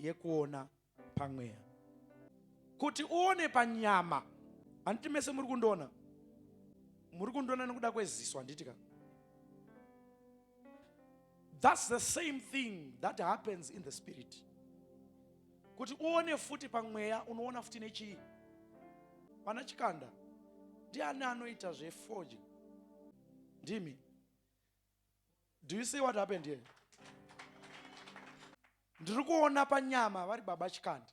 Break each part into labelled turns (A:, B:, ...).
A: yekuona pamweya kuti uone panyama handiti mese muri kundiona muri kundiona nekuda kweziso handiti ka thats the same thing that happens in the spirit kuti uone futi pamweya unoona futi nechii vana chikanda ndiani anoita zvefoji ndimi do you see what happened here ndiri kuona panyama vari baba chikandi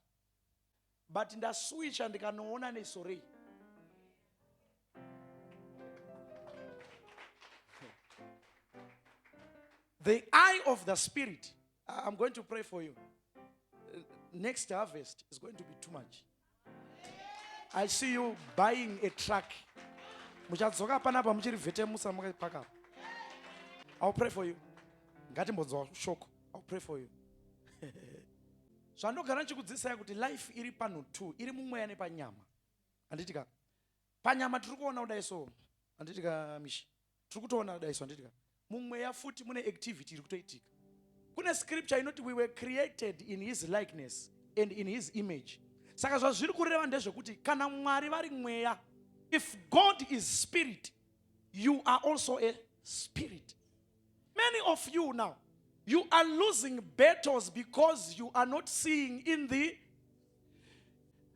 A: but ndaswicha ndikanoona nesorei the eye of the spirit i'm going to pray for you next harvest is going to be too much i see you buying a truck muchadzoka panapa muchiri vhetemusa makaipakapa ill pray for you ngatimbonzwa shoko ill pray for you zvandogara ndichikudzidzisai kuti life iri panhu two iri mumweya nepanyama handiti ka panyama tiri kuona kudai so handiti ka mishi tiri kutoona kudai so handiti ka mumweya futi mune activity iri kutoitika kune scripture inoti we were created in his likeness and in his image saka zvazviri kureva ndezvekuti kana mwari vari mweya if god is spirit you are also a spirit Many of you now, you are losing battles because you are not seeing in the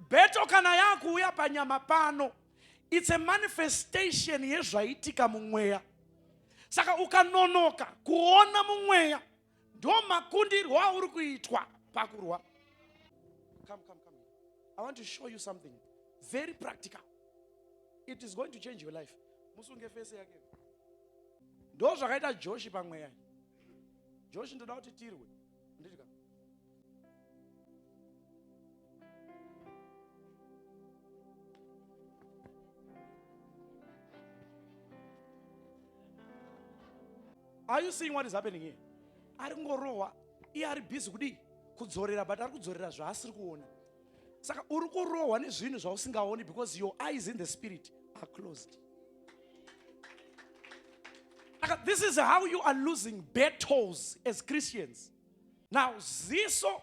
A: battle kana yakuuya panyama pano it's a manifestation yezvaitika mumweya saka ukanonoka kuona mumweya ndo makundirwo auri kuitwa pakurwa come, come, come. i want to show you something very practical it is going to change your life musunge fese yake ndo zvakaita joshi pamweya joshi ndoda kuti tirwe nditika are you seeing what is happening here ari kungorohwa iye ari busy kudii kudzorera but ari kudzorera zvaasiri kuona saka uri kurohwa nezvinhu zvausingaoni because your eyes in the spirit are closed saka this is how you are losing battles as christians now ziso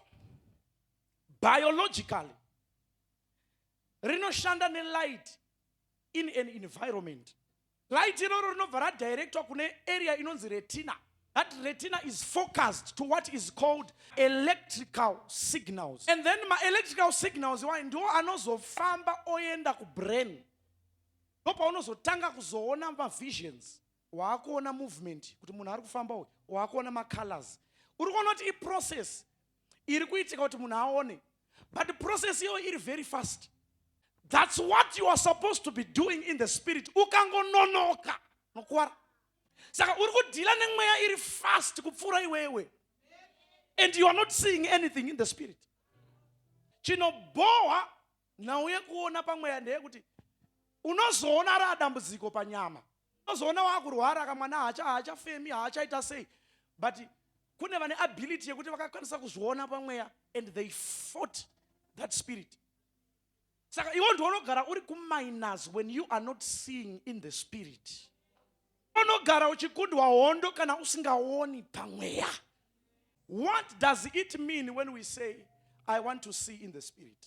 A: biologically rinoshanda nelight in an environment Light iroro rinobva radirectwa kune area inonzi retina. That retina is focused to what is called electrical signals. And then ma electrical signals iwayo ndiwo anozofamba oenda kubrain. Ndopaunozotanga kuzoona mavisions. Waakuona movement kuti munhu ari kufamba uyu, waakuona macolors. Uri kuona kuti iprocess iri kuitika kuti munhu aone but process iyoyo iri very fast thats what you are supposed to be doing in the spirit ukangononoka nokuwara saka uri kudhila nemweya iri fast kupfuura iwewe and you are not seeing anything in the spirit chinobhohwa nhau yekuona pamweya ndeyekuti unozoona raa dambudziko panyama unozoona wakurwara kamwana haacha haachafemi haachaita sei but kune vane ability yekuti vakakwanisa kuzviona pamweya and they fought that spirit saka iwo ndiwo unogara uri kuminus when you are not seeing in the spirit unogara uchikundwa hondo kana usingaoni pamweya what does it mean when we say i want to see in the spirit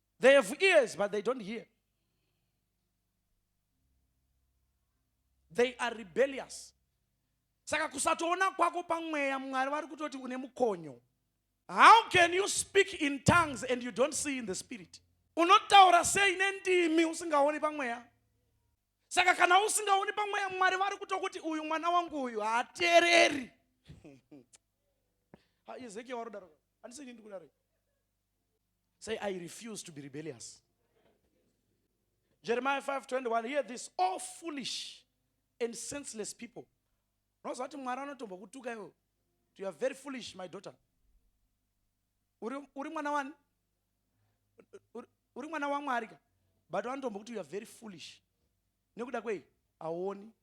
A: They have ears, but they don't hear. They are rebellious. Saka kusatoona kwako pamweya Mwari vari kutoti une mukonyo. How can you speak in tongues and you don't see in the spirit? Unotaura sei nendimi usingaoni pamweya? Saka kana usingaoni pamweya Mwari vari kutokuti uyu mwana wangu uyu haateereri. Ezekiel warodaro. Andisini ndikudaro. Say, I refuse to be rebellious. Jeremiah 5:21 hear this all foolish and senseless people unoziva kuti mwari anotombo kutuka iwo you are very foolish my daughter uri mwana wani uri mwana wamwari ka but vanotombo kuti you are very foolish nekuda kwei haoni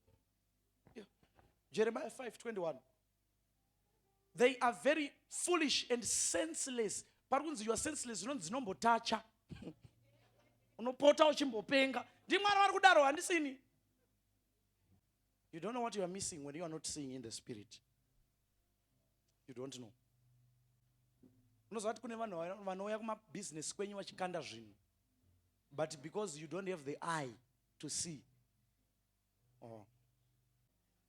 A: jeremiah 5:21 they are very foolish and senseless pari kunzi you are senseless zvinonzi dzinombotacha unopota uchimbopenga ndimwari vari kudaro handisini you don't know what you are missing when you are not seeing in the spirit you don't know unoziva kuti kune vanhu vanouya kumabhizinesi kwenyu vachikanda zvinhu but because you don't have the eye to see Oh.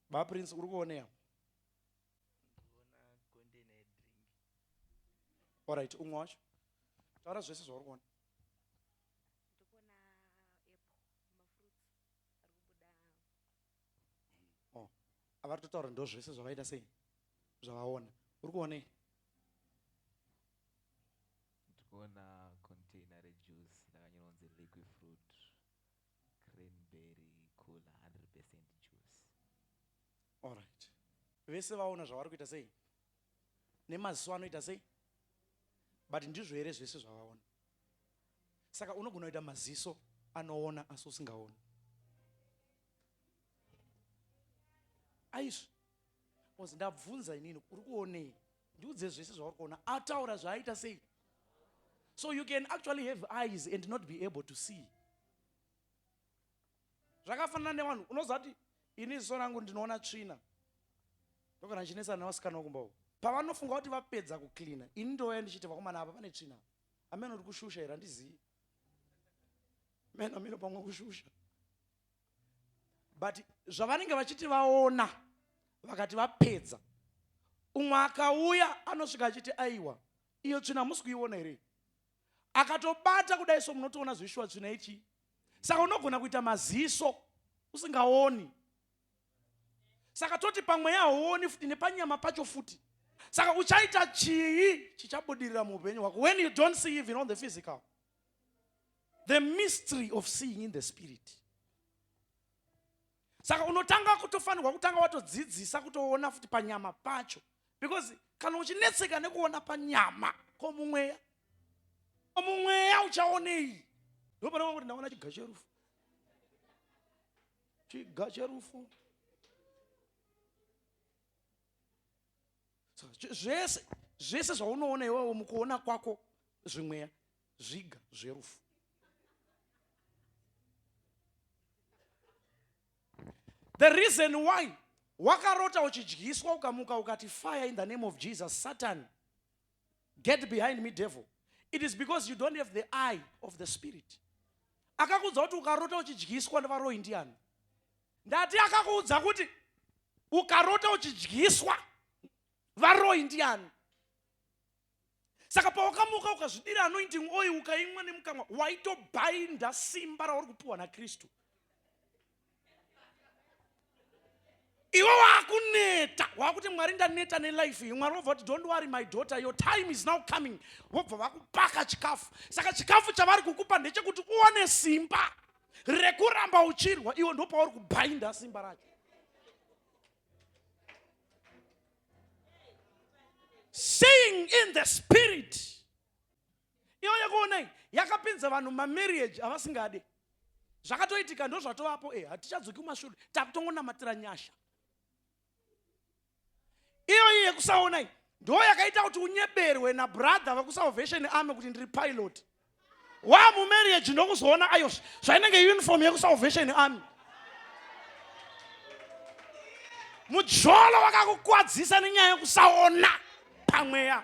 A: Ba Prince uri kuonea? Ndikuona container ye drink. All right, umwe wacho. Taura zvese zvauri kuona. Ndikuona apple, mafruits ari kubuda. Oh. Avari totaura ndo zvese zvavaita sei? Zvavaona. Uri kuonei?
B: Ndikuona container re juice rakanyorwa kunzi liquid fruit. Cranberry cooler 100 percent juice.
A: Alright. Vese vaona zvavari kuita sei? Nemaziso anoita sei? But ndizvo here zvese zvavaona? Saka unogona kuita maziso anoona asi usingaoni. Aizvi. Ozi ndabvunza inini uri kuonei? ndiudze zvese zvauri kuona ataura zvaaita sei so you can actually have eyes and not be able to see zvakafanana nevanhu unoziva kuti ini ziso rangu ndinoona tsvina ndokana ndichinetsana nevasikana wakumba uko pavanofunga kuti vapedza kucleana ini ndouya ndichiti vakomana apa pane tsvina amene uri kushusha here handizivi meno mino pamwe kushusha but zvavanenge vachiti vaona vakati vapedza umwe akauya anosvika achiti aiwa iyo tsvina hamusi kuiona here akatobata kudai so munotoona zvishuwa tsvina ichi saka unogona kuita maziso usingaoni saka toti pamweya hauoni futi nepanyama pacho futi saka uchaita chii chichabudirira muupenyu hwako when you don't see even on the physical the mystery of seeing in the spirit saka unotanga kutofanirwa kutanga watodzidzisa kutoona futi panyama pacho because kana uchinetseka nekuona panyama ko mumweya ko mumweya uchaonei ndopanaa kuti ndaona chiga cherufu chiga cherufu zvese zvese zvaunoona iwewo mukuona kwako zvimweya zviga zverufu the reason why wakarota uchidyiswa ukamuka ukati fire in the name of jesus satan get behind me devil it is because you don't have the eye of the spirit akakuudza kuti ukarota uchidyiswa nevaroyi ndiani ndati akakuudza kuti ukarota uchidyiswa varoyi ndiani saka pawakamuka ukazvidira anointing oil ukaimwa nemukamwa waitobhainda simba rauri kupiwa nakristu iwe wakuneta wakuti mwari ndaneta nelife iyi mwari vobva kuti don't worry my daughter your time is now coming vobva vakupaka chikafu saka chikafu chavari kukupa ndechekuti uone simba rekuramba uchirwa iwe ndopauri kubhainda simba racho seeing in the spirit iyo yekuonai yakapinza vanhu mamarriage avasingade zvakatoitika ndo zvatovapo e eh, hatichadzoki kumashure takutongonamatira nyasha iyoyi yekusaonai ndo yakaita kuti unyeberwe nabrother vekusalvation ame kuti ndiri pilot wa mumarriage ndokuzoona ayo zvainenge uniform yekusalvation ame mujolo wakakukwadzisa nenyaya yekusaona pamweya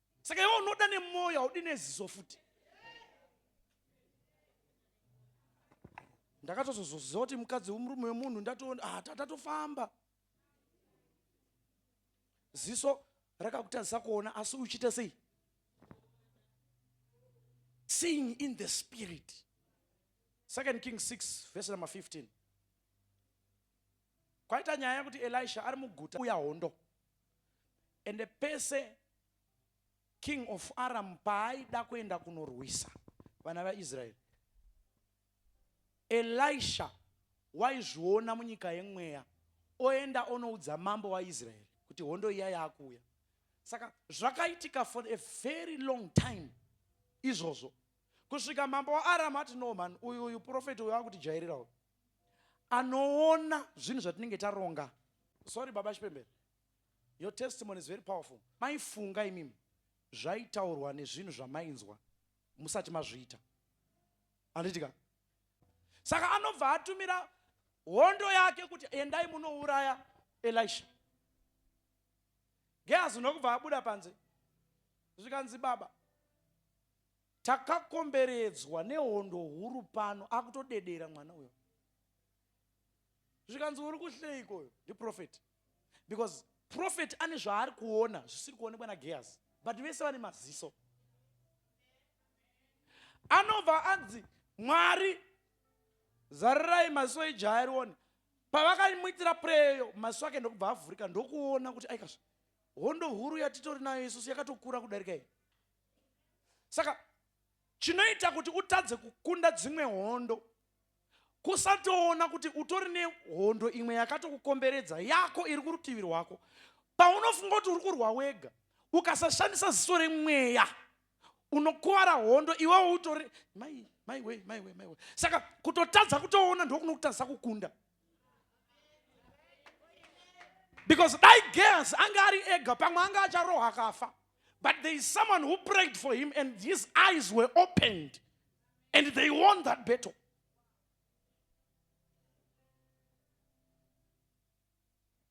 A: saka iwe unoda nemwoyo haudi neziso futi ndakatozozoziva kuti mukadzi murume wemunhu ndatoona ah, tatofamba ziso rakakutadzisa kuona asi uchiita sei seeing in the spirit second king 6 verse number 15 kwaita nyaya yekuti elisha ari muguta uya hondo ende pese king of aram paaida kuenda kunorwisa vana vaisraeri elisha waizviona munyika yemweya oenda onoudza mambo waisraeri kuti hondo iya yaakuuya saka zvakaitika for a very long time izvozvo kusvika mambo waaram ati no man uyu uyu profeti uyu akutijairira uyu anoona zvinhu zvatinenge taronga sorry baba chipembere your testimony is very powerful maifunga imimi zvaitaurwa nezvinhu zvamainzwa musati mazviita anditika saka anobva atumira hondo yake kuti endai munouraya elisha gehazi nokubva abuda panze zvikanzi baba Takakomberedzwa nehondo huru pano akutodedera mwana uyo. Zvikanzi uri kuhleiko uyo? Ndi prophet. Because prophet ane zvaari kuona zvisiri kuonekwa na Gehazi. But vese vane maziso. Anobva anzi Mwari zarirai maziso ejaya rione. Pavakamuitira preyo maziso ake ndokubva avhurika ndokuona kuti aikazve hondo huru yatitori nayo isusu yakatokura kudarika iyi. saka chinoita kuti utadze kukunda dzimwe hondo kusatoona kuti utori nehondo imwe yakatokukomberedza yako iri kurutivi rwako paunofunga kuti uri kurwa wega ukasashandisa ziso remweya unokuvara hondo iwewo utori mai maiwe maiwe maiwe saka kutotadza kutoona ndokunokutadzisa kukunda because dai geas anga ari ega pamwe anga acharohwa akafa but there is someone who prayed for him and his eyes were opened and they won that battle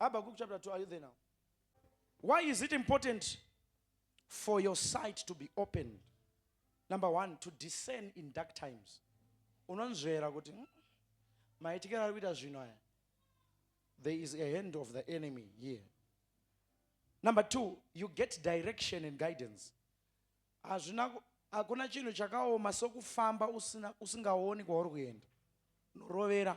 A: Habakkuk chapter 2, are you there now? Why is it important for your sight to be opened? Number one, to discern in dark times. Unonzvera kuti hmm, maitikira ari kuita zvinhu aya. There is a hand of the enemy here. Number two, you get direction and guidance. Hazvina hakuna chinhu chakaoma sokufamba usina usingaoni kwauri kuenda. Unorovera.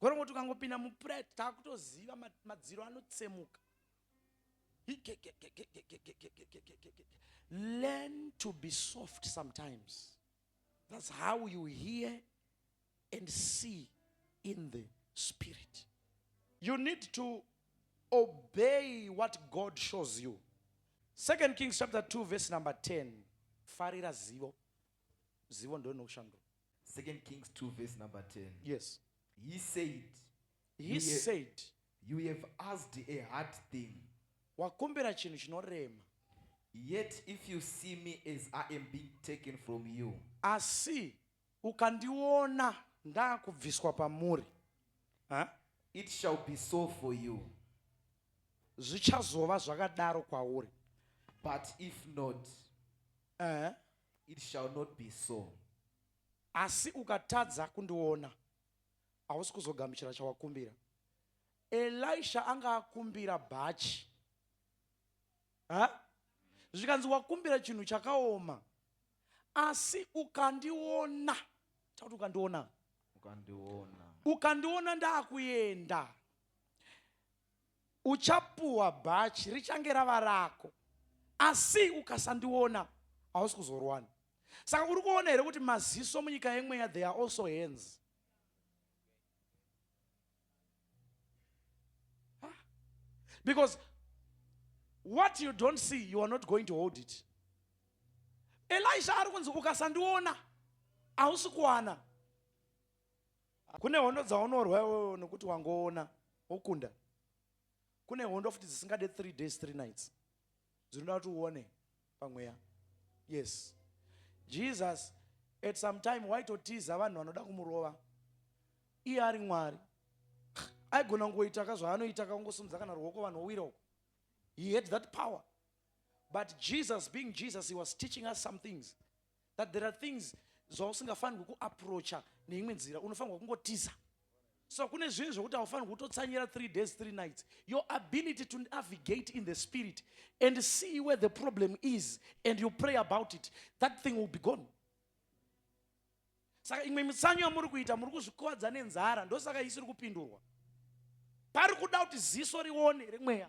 A: Gorongoti ukangopinda mupret takutoziva madziro anotsemuka. Learn to be soft sometimes. That's how you hear and see in the spirit. You need to obey what God shows you. Second Kings chapter 2 verse number 10. Farira zivo. Zivo ndio inokushandura. Second Kings 2
B: verse number 10. Yes. He
A: said,
B: He you have, said, You have asked a hard thing. Wakumbira
A: chinhu chinorema. Yet
B: if you see me as I am being taken from you. Asi
A: ukandiona ndakubviswa pamuri. Huh?
B: It shall be so for you. Zvichazova
A: zvakadaro kwauri. But
B: if not, Ehe. It shall not be so.
A: Asi ukatadza kundiona, hausi kuzogamuchira chawakumbira. Elisha anga akumbira bhachi. Ha? Zvikanzi wakumbira chinhu chakaoma. Asi ukandiona, takuti ukandiona. Ukandiona. Ukandiona ndakuenda. Uchapuwa bhachi richange rava rako asi ukasandiona hausi kuzorwana. Saka uri kuona here kuti maziso munyika yemweya they are also hands. Because what you don't see you are not going to hold it. Elisha ari kunzi ukasandiona hausi kuwana. Kune hondo dzaunorwa iwewe nokuti wangoona wokunda. Kune hondo futi dzisingade three days three nights dzinoda kuti uone pamweya. Yes, Jesus at some time waitotiza vanhu vanoda kumurova iye ari Mwari. Aigona kungoita ka zvaanoita ka kungosumudza kana ruoko vanhu wowira uko. He had that power. But Jesus being Jesus, he was teaching us some things. that there are things zvausingafanirwi kuaproacha neimwe nzira unofanirwa kungotiza so kune zvinhu zvekuti haufanirwi kutotsanyira three days three nights your ability to navigate in the spirit and see where the problem is and you pray about it that thing will be gone saka imwe mitsanyo yamuri kuita muri kuzvikuvadza nenzara ndosaka isiri kupindurwa pari kuda kuti ziso rione remweya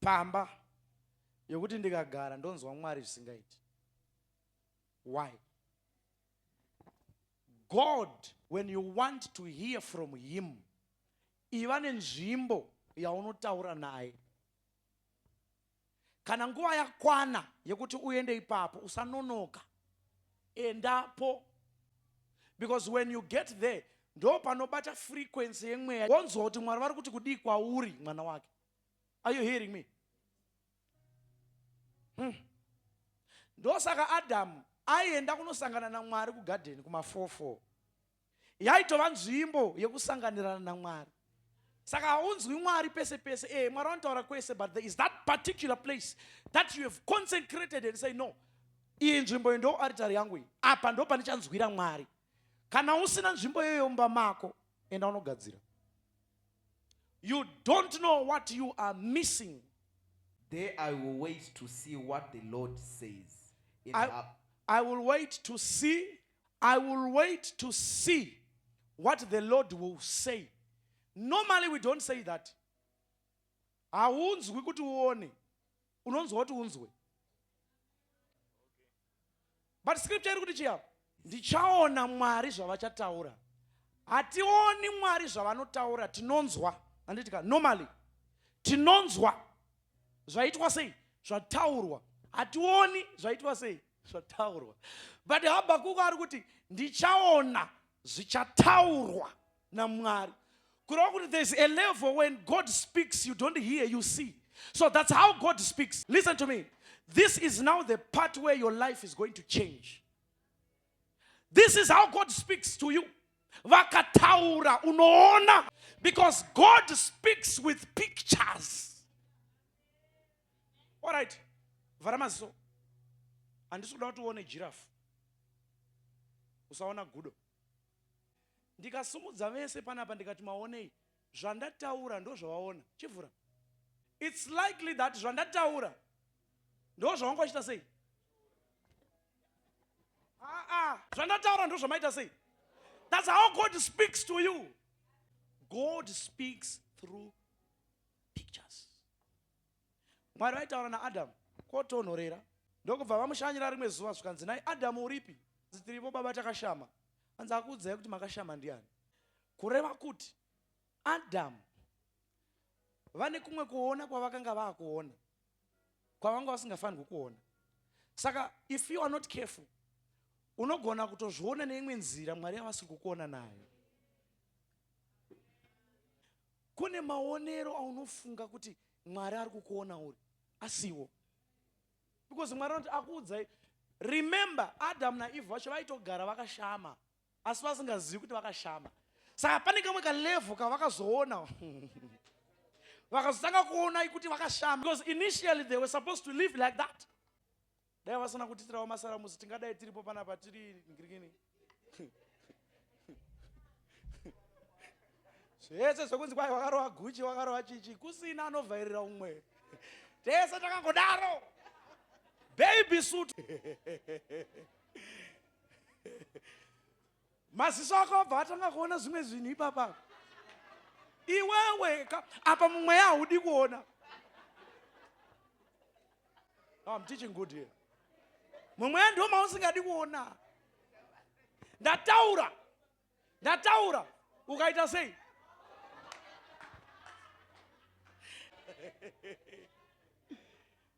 A: pamba yekuti ndikagara ndonzwa mwari zvisingaiti why god when you want to hear from him iva nenzvimbo yaunotaura naye kana nguva yakwana yekuti uende ipapo usanonoka endapo because when you get there ndo panobata frequency yemweya wonzwa kuti mwari vari kuti kudii kwauri mwana wake are you hearing me hmm. ndosaka adamu aienda kunosangana namwari kugadheni kumafofo yaitova nzvimbo yekusanganirana namwari saka haunzwi mwari pese pese e mwari vanotaura kwese but there is that particular place that you have consecrated and say no iyi nzvimbo iyi ndo aritari yangu iyi apa ndo pandichanzwira mwari kana usina nzvimbo iyoyo mumba mako enda unogadzira you don't know what you are missing there
B: i will wait to see what the lord says in I, her,
A: I will wait to see I will wait to see what the Lord will say. Normally we don't say that. Haunzwi kuti uone. Unonzwa kuti unzwe. But scripture iri kuti chiya ndichaona Mwari zvavachataura. Hationi Mwari zvavanotaura tinonzwa. Anditika normally tinonzwa zvaitwa sei zvataurwa hationi zvaitwa sei zvataurwa but habhakuku ari kuti ndichaona zvichataurwa namwari kureva kuti there's a level when god speaks you don't hear you see so that's how god speaks listen to me this is now the part where your life is going to change this is how god speaks to you vakataura unoona because god speaks with pictures Alright, vhara maziso. Handisi kuda kuti uone jirafu. Usaona gudo. Ndikasimudza vese panapa ndikati maonei. Zvandataura ndozvawaona. Chivhura. It's likely that zvandataura ndozvawanga wachita sei? Ah, ah. Zvandataura ndozvamaita sei? That's how God speaks to you. God speaks through pictures. Mwari vaitaura naAdhamu kwotonhorera ndokubva vamushanyira rimwe zuva zvikanzi, nhai Adhamu uripi? Hanzi tiripo baba takashama. Hanzi akuudzai kuti makashama ndiani? Kureva kuti Adhamu vane kumwe kuona kwavakanga vakuona kwavanga vasingafanirwi kuona saka if you are not careful unogona kutozviona neimwe nzira mwari yavasiri kukuona nayo Kune maonero aunofunga kuti Mwari ari kukuona uri asiwo. Because Mwari anoti akuudzai. Remember Adam na Eve vacho vaitogara vakashama asi vasingazivi kuti vakashama. Saka pane kamwe ka level kavakazoona. Vakazotanga kuona kuti vakashama because initially they were supposed to live like that. dai vasina kutiitirawo masaramusi tingadai tiripo panapa tiri ngirikini zvese zvekunzi kwai wakarova guchi wakarova chichi kusina anovhairira umwe tese takangodaro baby suit maziso ako abva atanga kuona zvimwe zvinhu ipapa iwewe apa mumweya haudi kuona no, I'm teaching good here mumweya ndiwo mausingadi kuona ndataura ndataura ukaita sei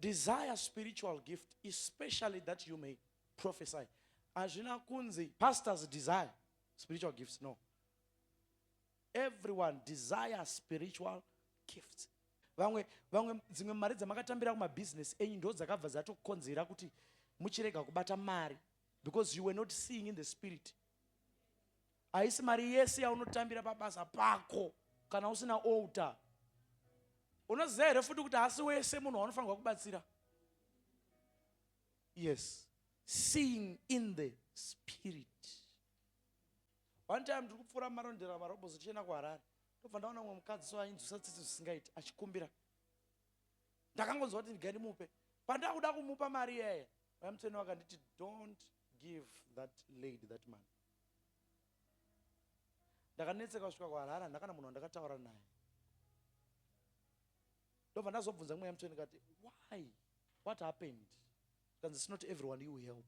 A: desire spiritual gift especially that you may prophesy hazvina kunzi pastors desire spiritual gifts no everyone desire spiritual gifts vamwe vamwe dzimwe mari dzamakatambira kumabhizinesi enyu ndo dzakabva dzatokonzera kuti muchirega kubata mari because you were not seeing in the spirit Haisi mari yese yaunotambira pabasa pako kana usina altar. Unoziva here futi kuti haasi wese munhu waunofanirwa kubatsira? Yes. Seeing in the spirit. One time ndiri kupfuura marondera marobos tichienda kuHarare. Ndobva ndaona mumwe mukadzi so ainzwisa tsitsi zvisingaiti achikumbira. Ndakangonzwa kuti ndiga ndimupe. Pandakuda kumupa mari yeye, vamuteni vakanditi don't give that lady that money. ndakanetseka kusvika kuharare handina kana munhu wandakataura naye ndobva ndazobvunza mweya mutsvene kati why what happened kanzi it's not everyone you help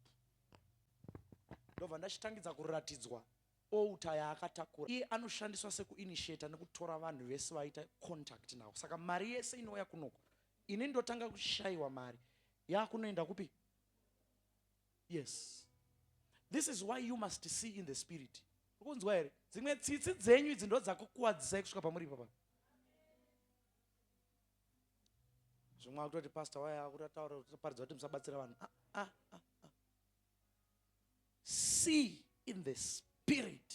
A: ndobva ndachitangidza kuratidzwa outa yaakatakura iye anoshandiswa sekuinitiata nekutora vanhu vese vaita contact nawo saka mari yese inouya kunoko ini ndotanga kushayiwa mari yaakunoenda kupi Yes. This is why you must see in the spirit. Ukunzwa here? Dzimwe tsitsi dzenyu idzi ndodzakukuwadzisai kusvika pamuri papa. Zvimwe akutoti pastor waya akutataura kuti paridza kuti musabatsira vanhu. Ah, ah, ah, ah. See in the spirit.